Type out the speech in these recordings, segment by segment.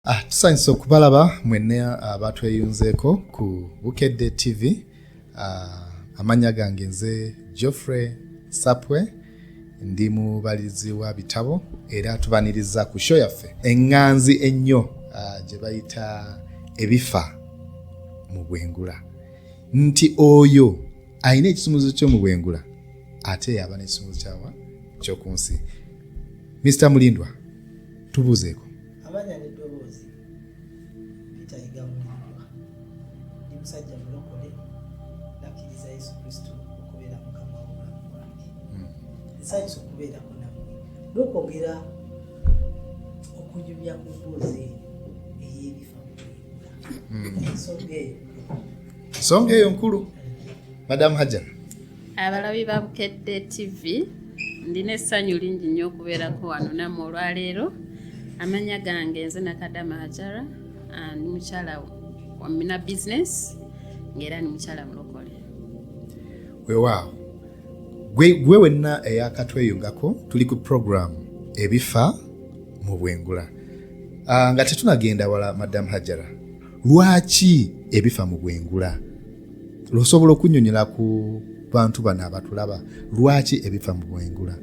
Ah, tusanyusa okubalaba mwene abatweyunzeeko ah, ku bukedde tv ah, amannya gange nze geoffrey sapwe ndi mubalizi wa bitabo era tubaniriza ku sho yaffe eŋŋanzi ennyo ah, gye bayita ebifa mu bwengula nti oyo alina ekisumuzo kyo mu bwengula ate yaba n'ekisumuzo kyawa kyoku nsi mr mulindwa tubuuzeeko amanya n'eddoboozi litayiga mulirwa ndi musajja mulokole nakkiriza yesu kristo okubeera mukama w'obulamu bwange hmm. nsanyusa okubeerako nammwe n'okwogera okunyumya ku mboozi eyo ey'ebifa mukulirwa hmm. ensonga eyo nsonga eyo nkulu madamu hajjana abalabi ba bukedde tv ndina essanyu lingi nnyo okubeerako wano namu olwaleero amanya gange nze nakadama hajara ah, ndi mukyala wamina business ngaera ndi mukyala mulokole wewaawo gwe wenna eyakatweyungako tuli ku program ebifa mu bwengula ah, nga tetunagenda wala madamu hajara lwaki ebifa mu bwengula lwosobola okunyonyola ku bantu bano abatulaba lwaki ebifa mu bwengula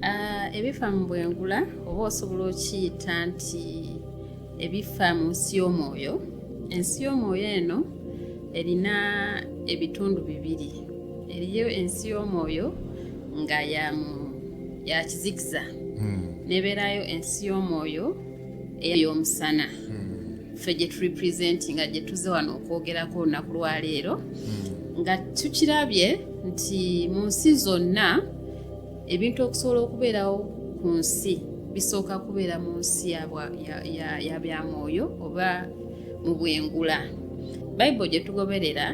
ah, ebifa mu bwengula oba osobola okiyita nti ebifa mu nsi y'omwoyo ensi y'omwoyo eno erina ebitundu bibiri eriyo ensi y'omwoyo nga ya kizikiza hmm. nebeerayo ensi y'omwoyo ey'omusana hmm. ffe gye turepresentinga gye tuze wano okwogerako olunaku lwaleero hmm. nga tukirabye nti mu nsi zonna ebintu okusobola okubeerawo ku nsi bisooka kubeera mu nsi ya bya mwoyo oba mu bwengula bayibuli gye tugoberera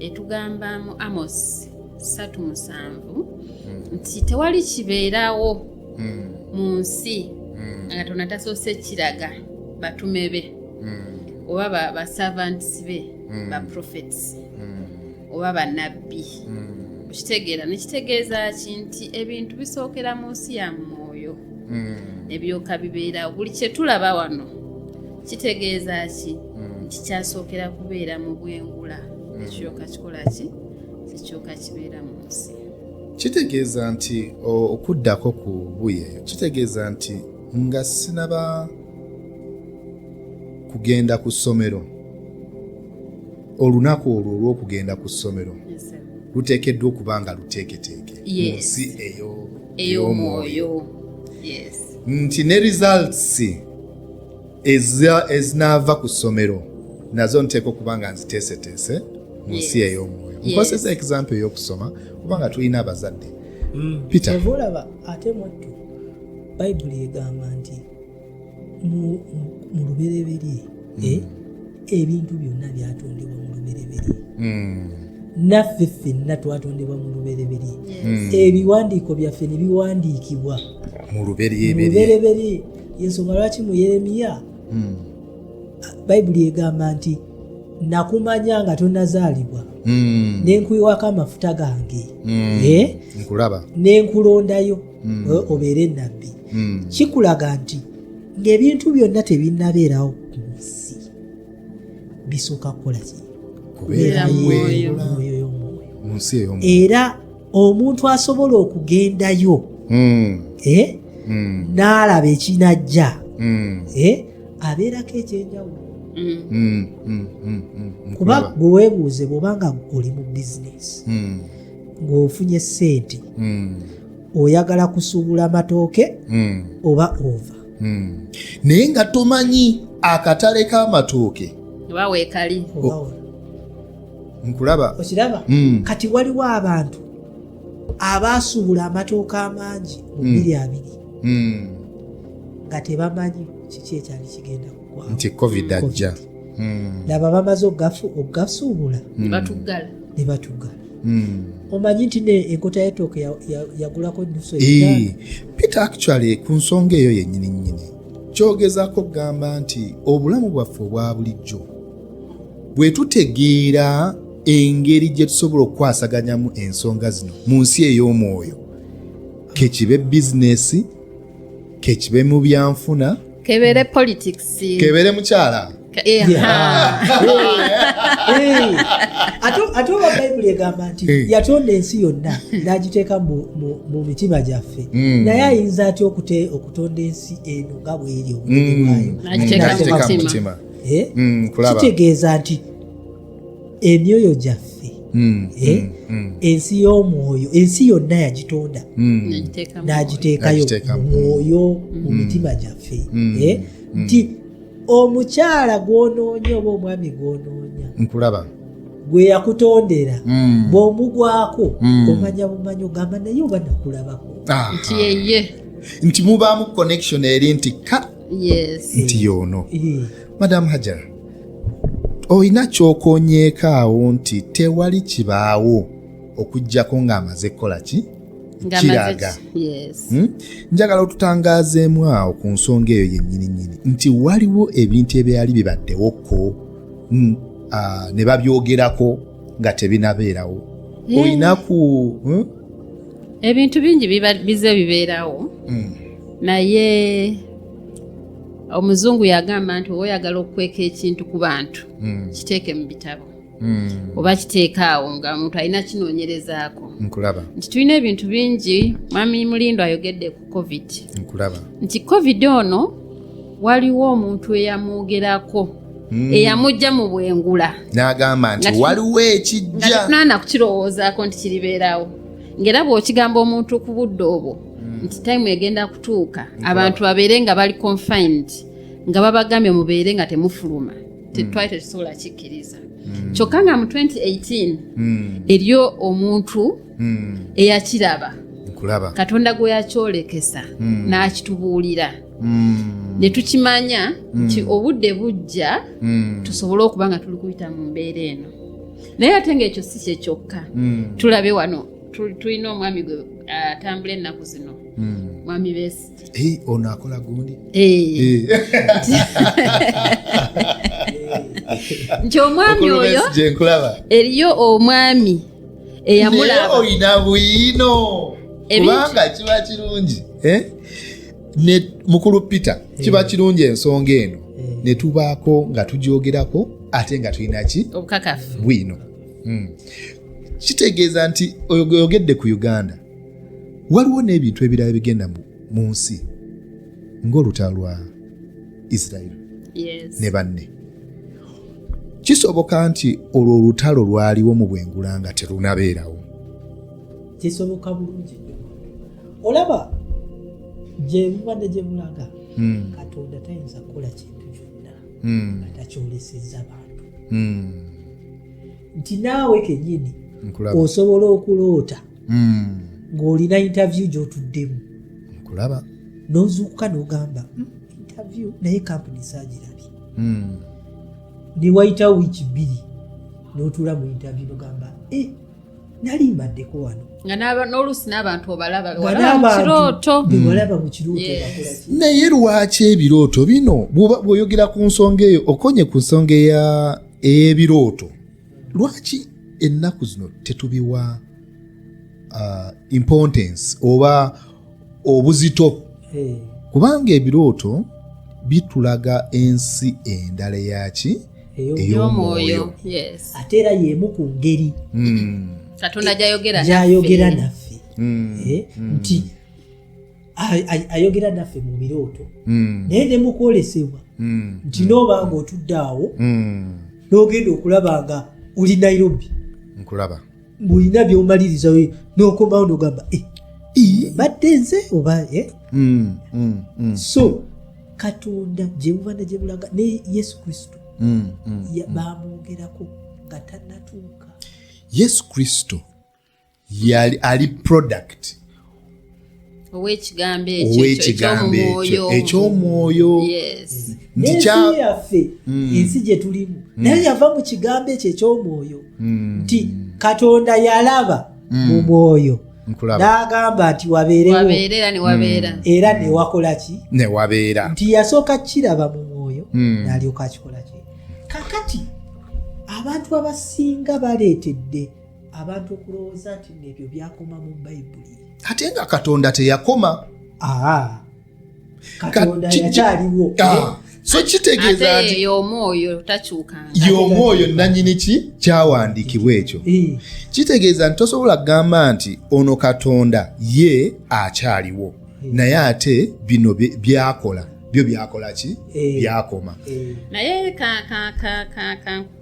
etugamba mu amos satu musanvu hmm. nti tewali kibeerawo hmm. mu nsi hmm. nga tona tasoose kiraga batume be hmm. oba baservants be ba prophets oba banabbi okitegeera nekitegeeza ki nti ebintu bisookera mu nsi ya mwoyo ebyoka bibeerawo buli kyetulaba wano kitegeeza ki nti kyasookera kubeera mu bwengula ekyoka kikola ki ekyoka kibeera mu nsi kitegeeza nti okuddako ku buye kitegeeza nti nga sinaba kugenda ku ssomero olunaku olwo olw'okugenda ku ssomero luteekeddwa okuba nga luteeketeeke mu nsi ey'omwoyo nti ne results ezinaava ku ssomero nazo nteeka okuba nga nziteeseteese mu nsi ey'omwoyo nkozesa example ey'okusoma kubanga tulina abazadde mm. peterolaba ate mwattu bayibuli egamba nti mu lubereberye mm. eh, ebintu byonna byatondebwa mu lubereberye mm. naffe ffenna twatondebwa mu lubereberye hmm. ebiwandiiko byaffe ne biwandiikibwa mu lubereberye yensonga lwaki mu yeremiya hmm. bayibuli egamba nti nakumanya nga tonazaalibwa hmm. nenkuyiwako amafuta gange hmm. eh? nenkulondayo eh, obeere nabbi kikulaga nti ngaebintu byonna tebinabeerawo ku nsi bisooka kukola ki kubeera mwoyo era omuntu asobola okugendayo hmm. eh? hmm. n'alaba ekinajja hmm. eh? abeerako ekyenjawulo kuba gwe weebuuze bwobanga oli mu bizinesi ng'ofunye ssente oyagala kusuubula matooke oba ova naye nga tomanyi akatale k'amatooke oba weekali nkulaba okiraba mm. kati waliwo abantu abaasuubula amatooka amangi mu mm. biri abiri mm. nga tebamanyi kiki ekyali kigenda kugwa nti covid ajja mm. laba bamaze okugasuubula mm. ne batuggala Hmm. omanyi nti enkota yetooke yagulako nusu peter actually ku nsonga eyo yennyini nnyini kyogezako kugamba nti obulamu bwaffe obwa bulijjo bwe tutegeera engeri gye tusobola okukwasaganyamu ensonga zino mu nsi ey'omwoyo kekibe bizinesi kekibe mu byanfuna kebere politics kebere mukyala ate oba bayibuli egamba nti yatonda ensi yonna n'agiteeka mu mitima gyaffe hmm. naye ayinza atya okutonda ensi eno nga bweri obunene hmm. bwayo eh? mm, kitegeeza nti emyoyo gyaffe mm, eh? ensi y'omwoyo ensi yonna yagitonda n'agiteekayo mwoyo mu mitima gyaffe eh? nti omukyala gw'onoonya oba omwami gw'onoonya nkulaba gwe yakutondera hmm. bw'omugwako hmm. omanya bumanyi ogamba naye oba nakulabako nti mubaamu connection eri nti nti yoono madamu hajara olina kyokonyeeko awo nti tewali kibaawo okujjako ng'amaze kukola ki kiraga hmm? njagala otutangaazeemu awo ku nsonga eyo yennyini nyini nti waliwo ebintu ebyali bibaddewoko hmm, ne babyogerako nga tebinabeerawo olina ku hmm? ebintu bingi bize bibeerawo hmm. naye omuzungu yagamba nti oba oyagala okukweka ekintu ku bantu hmm. kiteeke mu bitabo hmm. oba kiteeka awo nga omuntu alina kinoonyerezaako nti tulina ebintu bingi mwami mulindo ayogedde ku covid nkulaba nti covid ono waliwo omuntu eyamwogerako hmm. eyamujja mu bwengula n'agamba nti waliwo ekijja nana kukirowoozaako nti kiribeerawo ng'era bw'okigamba omuntu ku budde obwo hmm. nti time egenda kutuuka abantu babeere nga bali confined nga babagambye mubeere nga temufuluma hmm. tetwali tetusobola kikkiriza kyokka nga mu 2018 eriyo omuntu hmm. eyakiraba katonda gwe yakyolekesa hmm. n'akitubuulira hmm. ne tukimanya nti obudde bujja tusobole okuba nga tuli kuyita mu mbeera eno naye ate ngaekyo si kye kyokka tulabe wano tulina omwami gwe atambula ennaku zino mwami besi Hey, ono akola gundi hey. Eh. Hey. nti omwami oyo eriyo omwami eyamulabaolina bwino kubanga kiba kirungi eh? mukulu peter kiba eh. kirungi ensonga eno eh. netubaako nga tugyogerako ate nga tulinaki bwino hmm. kitegeeza nti oyogedde ku uganda waliwo n'ebintu ebirala bigenda mu nsi ng'olutalo lwa israeli ne banne kisoboka nti olwo olutalo lwaliwo mu bwengula nga terunabeerawo kisoboka bulungi olaba gyebubadde gye bulaga hmm. katonda tayinza kukola kintu kyonna hmm. nga takyolesezza bantu hmm. nti naawe kenyini osobola okuloota hmm. ng'olina interview gy'otuddemu kulaba n'ozuukuka n'ogamba hmm, interview naye kampuni saagirabye hmm. ne wayitawo wiiki bbiri n'otuula mu interview n'ogamba e eh, nali mbaddeko wano n'oluusi n'abantu obalabakirooto bebalaba mu kirooto naye lwaki ebirooto bino bw'oyogera ku nsonga eyo okonye ku nsonga ey'ebirooto lwaki ennaku zino tetubiwa uh, importance oba obuzito hey. kubanga ebirooto bitulaga ensi endala eyaki ey'omwoyo ate era y'emu ku ngeri hmm. katonda gyayogera naffe hmm. Eh, hmm. nti ayogera naffe mu birooto hmm. naye ne mukwolesebwa hmm. nti hmm. nooba nga otudde awo n'ogenda okulaba nga oli nairobi nkulaba mulina byomaliriza nokomawo nogamba eh, badde nze oba eh? so katonda gyebubana gyebulaga ne yesu kristo bamwogerako nga tanatuuka yesu kristo yali ali product owekigambo ekyo ekyomwoyo yaffe hmm. ensi gyetulimu hmm. naye yava mu kigambo ekyo ekyomwoyo hmm. nti katonda yalaba mu mwoyo n'agamba nti wabeerewo era newakola ki newabeera nti yasooka kiraba mu mwoyo nalyoka akikola ki kakati abantu abasinga baleetedde abantu okulowooza nti nebyo byakoma mu bayibuli ate nga katonda teyakoma katonda yakyaliwo ah. so kitegeeza nti y'omwoyo takyukanga y'omwoyo nanyini ki kyawandiikibwa ekyo eh. kitegeeza nti tosobola kugamba nti ono katonda ye akyaliwo eh. naye ate bino byakola byo byakola ki eh. byakoma naye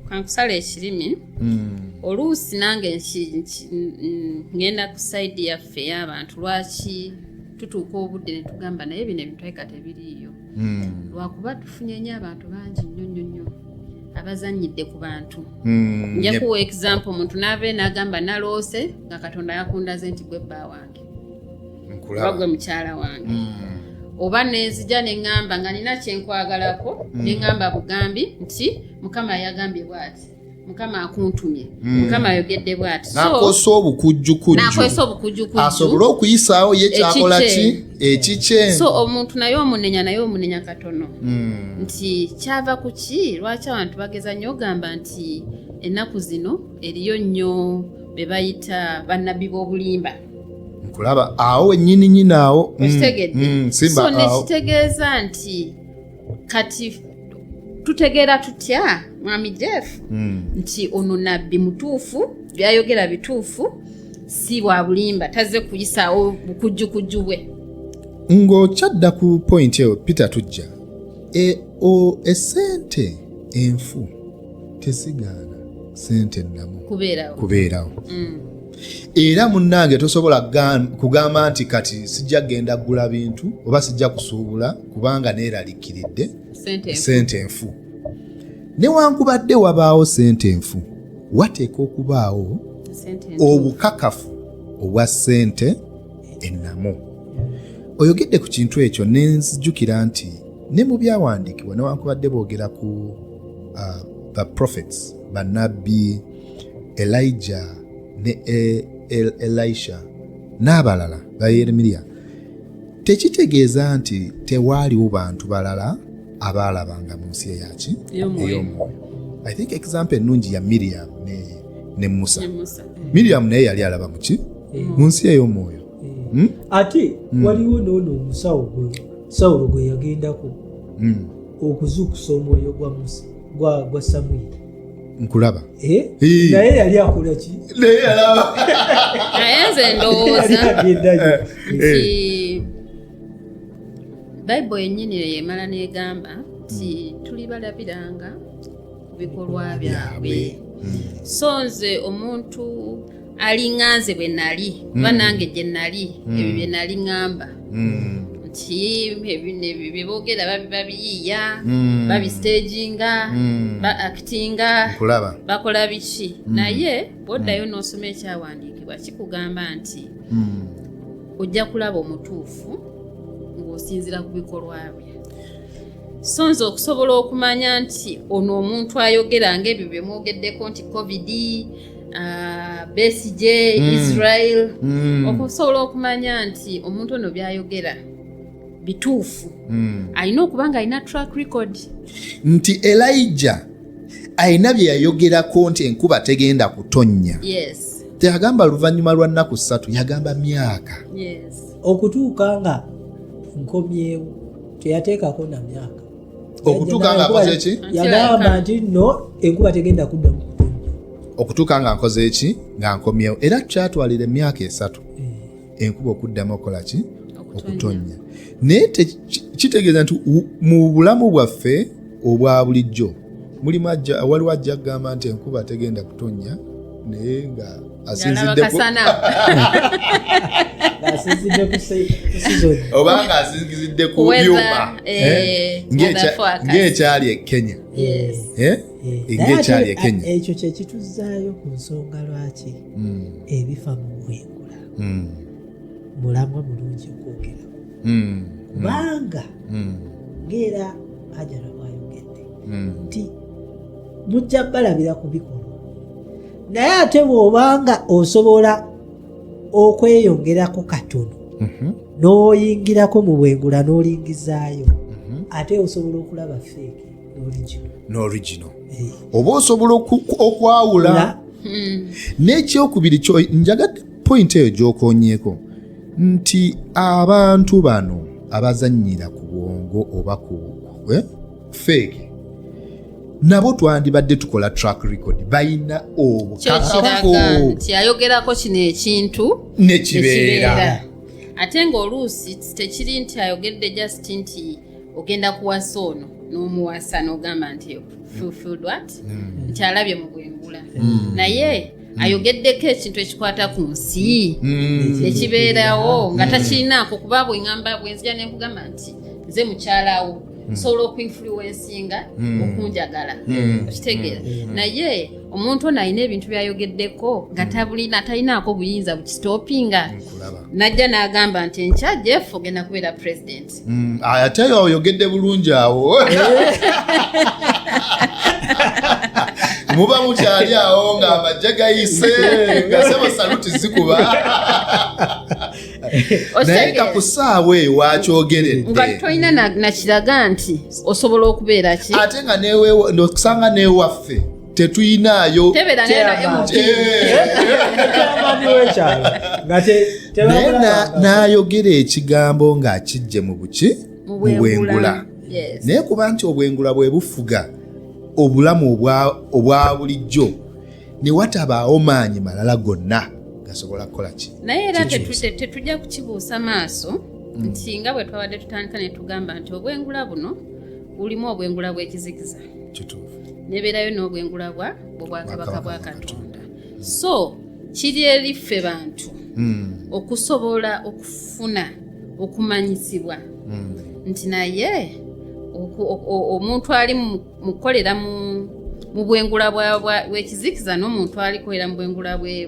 kankusala ekirimi hmm. oluusi nange ngenda ku saidi yaffe y'abantu lwaki tutuuka obudde ne tugamba naye bino ebitweka tebiriiyo hmm. lwakuba tufunye nyo abantu bangi nnyo nnyo nnyo abazanyidde ku bantu hmm, njakuwa example omuntu naava nagamba naloose nga katonda yakundaze nti gwe bba wange oba gwe mukyala wange mm. oba nenzija neŋŋamba nga nina kyenkwagalako mm. neŋŋamba bugambi nti mukama yagambye bwati mukama akuntumye mm. mukama ayogedde bwati nakozesa obukujjukujjunakozesa obukujjukujju asobole okuyisaawo ye kyakola ki ekikye so omuntu naye omunenya naye omunenya katono nti kyava ku ki lwaki abantu bageza nnyo ogamba nti ennaku zino eriyo nnyo be bayita bannabbi b'obulimba nkulaba awo wenyini nyini awo mm, okitegedde mm, simba so awo nekitegeeza nti kati tutegeera tutya mwami jeff Mm. nti ono nabbi mutuufu byayogera bituufu si bwa bulimba tazze kuyisaawo bukujjukujju bwe ng'okyadda ku point eyo peter tujja e, o, esente enfu tesigaana sente ennamu kubeerawo mm. era munnange tosobola kugamba nti kati sijja kugenda kugula bintu oba sijja kusuubula kubanga neeralikiridde sente enfu newankubadde wabaawo sente enfu wateeka okubaawo obukakafu obwa sente ennamu oyogedde ku kintu ekyo nenzijukira nti ne mu byawandiikibwa newankubadde boogera ku uh, the prophets banabbi elijah ne e, e, elisha n'abalala bayeremiya tekitegeeza nti tewaaliwo bantu balala abaalabanga mu nsi eyaki ey'omwoyo i think example ennungi ya miriam ne, ne musa eh. miriam naye yali alaba muki eh. mu nsi ey'omwoyo eh. hmm? ate hmm. waliwo noono omusawo gwe sawulo gwe yagendako mm. okuzuukusa omwoyo gwa musa gwa, gwa samwiri nkulaba eh? naye yali akola ki naye yalaba naye nze ndowooza eh. nti bayibuli yennyini eyo emala n'egamba nti hmm. tuli balabiranga ku bikolwa byabwe hmm. so nze omuntu alinganze bwe nali kuba mm. nange gye nali mm. ebyo bye nali ŋŋamba mm. nti bye boogera babiyiiya babisiteginga ba akitinga bakola biki naye bwoddayo n'osoma ekyawandiikibwa kikugamba nti ojja kulaba omutuufu ng'osinzira ku bikolwa bye so nze okusobola okumanya nti ono omuntu ayogera ngaebyo byemwogeddeko nti covid Ah, besigye mm. israel mm. okusobola okumanya nti omuntu ono byayogera bituufu mm. alina okuba nga alina track record nti elija alina bye yayogerako nti enkuba tegenda kutonnya yes. teyagamba luvannyuma lwa nnaku ssatu yagamba myaka yes. okutuuka nga nkomyewo teyateekako na myaka okutuuka nga nkoze eki yagamba nti no enkuba tegenda kudda mu okutuuka nga nkoze eki nga nkomyewo era tukyatwalira emyaka esatu eh. enkuba okuddamu okukola ki okutonnya naye kitegeeza nti mu bulamu bwaffe obwa bulijjo mulimu waliwo ajja kugamba nti enkuba tegenda kutonnya naye nga obanga asinzidde ku byuma ng'ekyali e kenya ng'ekyali e kenya ekyo kyekituzaayo ku nsonga lwaki hmm. ebifa mu bwengula hmm. mulamwa mulungi okwogera hmm. kubanga ng'era ajara bwayogedde nti mujja balabira ku bikolwa naye ate bw'obanga osobola okweyongerako katono mhm. n'oyingirako mu bwengula n'olingizaayo mhm. ate osobola okulaba feeke n'origino eh. oba osobola okwawula hmm. n'ekyokubiri kyo njagadde pointi eyo gy'okonyeeko nti abantu bano abazannyira ku bwongo oba ku eh, feeke nabo twandibadde tukola track record balina obukakafuyayogerako kino ekintu nekibeera ate ngaoluusi tekiri nti ayogedde just nti ogenda kuwasa ono n'omuwasa n'ogamba nti fulfilled what mm. nti alabye mu bwengula mm. naye Mm. ayogeddeko ekintu ekikwata ku nsi mm. ekibeerawo nga mm. takirinaako kuba bwengamba bwenzija nenkugamba nti nze mukyalawo nsobola okuinfluensinga okunjagala okitegeera naye omuntu ono alina ebintu byayogeddeko nga tabulina talinaako buyinza bukistopinga najja n'agamba nti enkya jeff ogenda kubeera president Mm, ate oyogedde bulungi awo muba mukyali awo nga amajje gayise nga sebo saluti zikuba naye nga ku saawa eyo wakyogeredde nga tolina nakiraga nti osobola okubeera ki ate nga newe okusanga newaffe tetuyinaayo naye n'ayogera ekigambo ng'akijje mu buki mu bwengula naye kuba nti obwengula bwe bufuga obulamu obwa bulijjo ne watabaawo maanyi malala gonna gasobola kukola ki naye era tetujja kukibuusa maaso mm. nti nga bwe twabadde tutandika ne tugamba nti obwengula buno ulimu obwengula bw'ekizikiza kituufu nebeerayo n'obwengula bwa bwobwakabaka bwa katonda so kiri eri ffe bantu hmm. okusobola okufuna okumanyisibwa hmm. nti naye omuntu ali mu kukolera mu mu bwengula bwekizikiza n'omuntu alikolera mu bwengula bwe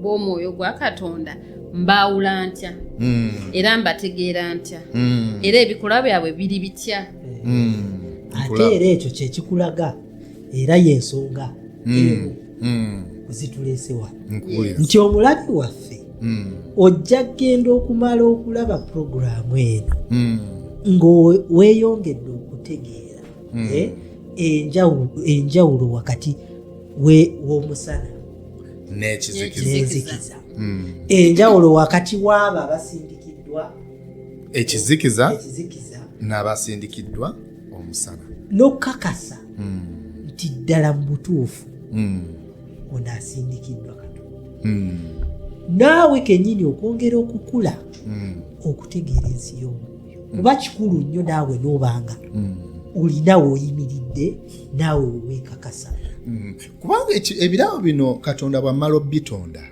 bw'omwoyo gwa katonda mbaawula ntya hmm. era mbategeera ntya hmm. era ebikolwa byabwe biri bitya hmm. ate era ekyo kyekikulaga era yensonga zituleesewa nti omulabi waffe ojja kgenda okumala okulaba puroguramu eno ngaweeyongedde okutegeera eh, enjawulo wakati w'omusana n'ekizikiza hmm. enjawulo wakati w'abo abasindikiddwa ekizikiza n'abasindikiddwa omusana n'okukakasa hmm. nti ddala mu butuufu hmm. ono asindikiddwa katonda naawe kenyini okwongera okukula okutegeera ensi y'omwoyo kuba kikulu nnyo naawe n'obanga olina weoyimiridde naawe wewekakasa kubanga ebirabo bino katonda bwammala obitonda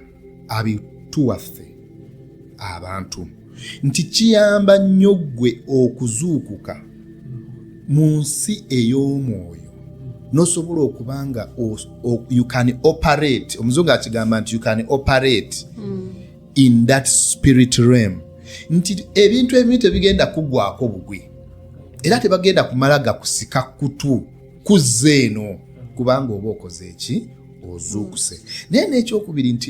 abituwaffe abantu nti kiyamba nnyo ggwe okuzuukuka mu nsi ey'omwoyo nosobola okuba nga you can operate omuzungu akigamba nti you can operate mm. in that spirit realm nti ebintu ebimu tebigenda kugwako bugwi era tebagenda kumala gakusika kutu kuzza eno kubanga oba okoze eki ozuukuse naye n'ekyokubiri nti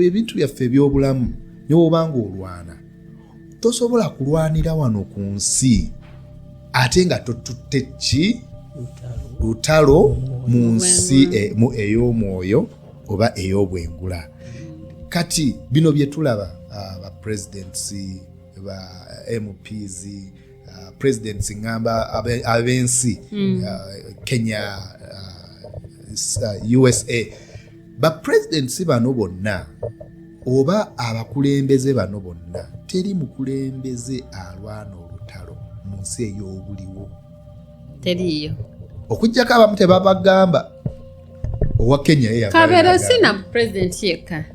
ebintu byaffe eby'obulamu newobanga olwana tosobola kulwanira wano ku nsi ate nga totutte ki lutalo mu nsi e, ey'omwoyo oba ey'obwengula kati bino bye tulaba ah, ba presidents ba mps uh, presidents ngamba ab'ensi mm. uh, kenya uh, usa uh, bapresidents bano bonna oba abakulembeze bano bonna teri mukulembeze alwana olutalo mu nsi ey'obuliwo teriiyo okujjako abamu tebabagamba owa kenya kabeere si na president yekka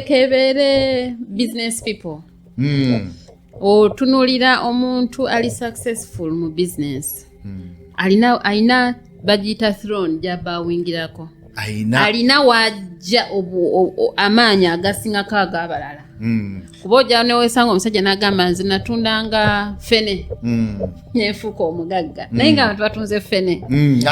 kebeere business people hmm. otunulira omuntu ali successful mu business hmm. alina alina bagiyita throne gyabawingirako alina wajja amaanyi agasingako agabalala hmm. kuba ojja newesanga omusajja nagamba nze natundanga fene hmm. nefuuka omugagga naye nga abantu batunze fene mm,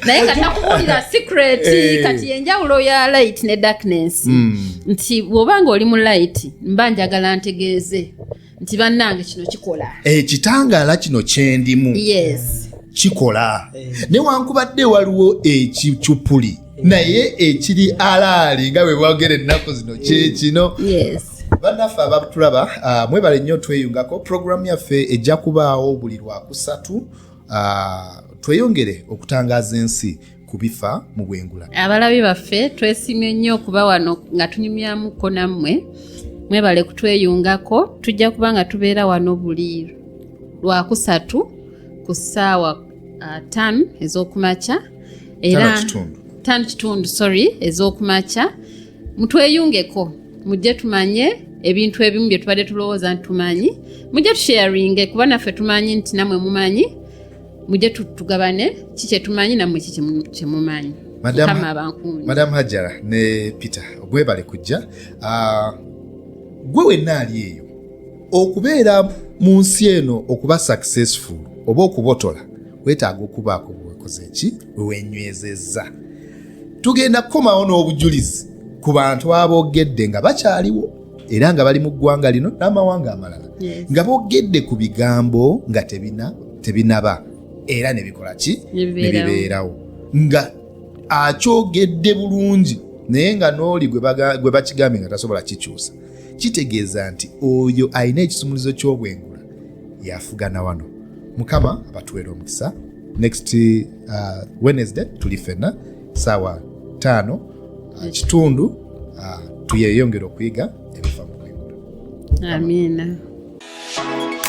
naye nga nakubuulira secret eh. kati yenjawulo ya light ne darkness mm. nti bwoba nga oli mu light mba njagala ntegeeze nti bannange kino kikola ekitangaala eh, kino kyendimu kikola eh. newankubadde waliwo ekicupuli naye ekiri alaali nga bwe bwogera ennaku zino kyekino bannaffe abatulaba uh, mwebale nnyo tweyungako puroguramu yaffe ejja kubaawo buli lwakusatu uh, tweyongere okutangaza ensi kubifa mu bwengula abalabi baffe twesimye nnyo okuba wano nga tunyumyamuko nammwe mwebale kutweyungako tujja kuba nga tubeera wano buli lwakusatu ku ssaawa uh, tan ezokumakya era tan kitundu sorry ezokumakya mutweyungeko mujje tumanye ebintu ebimu bye tubadde tulowooza nti tumanyi mujje tusharinge kuba naffe tumanyi nti namwe mumanyi mujje tugabane ki kyetumanyi namwe ki kyemumanyi madamu hajara ne peter ogwebale kujja ah, gwe wenna ali eyo okubeera mu nsi eno okuba successful oba okubotola wetaaga okubaako bwekoze ki wewenywezezza tugenda kukomawo n'obujulizi ku bantu aboogedde nga bakyaliwo era nga bali mu ggwanga lino n'amawanga amalala nga boogedde ku bigambo nga tebinaba era nebikola ki nebibeerawo nga akyogedde bulungi naye nga n'oli gwe bakigambye nga tasobola kikyusa kitegeeza nti oyo alina ekisumuluzo ky'obwengula yafugana wano mukama abatuweera omukisa next uh, wednesday tuli fenna saawa taano uh, kitundu uh, tuyeyongera okuyiga ebifa mu bwengula amiina Amen.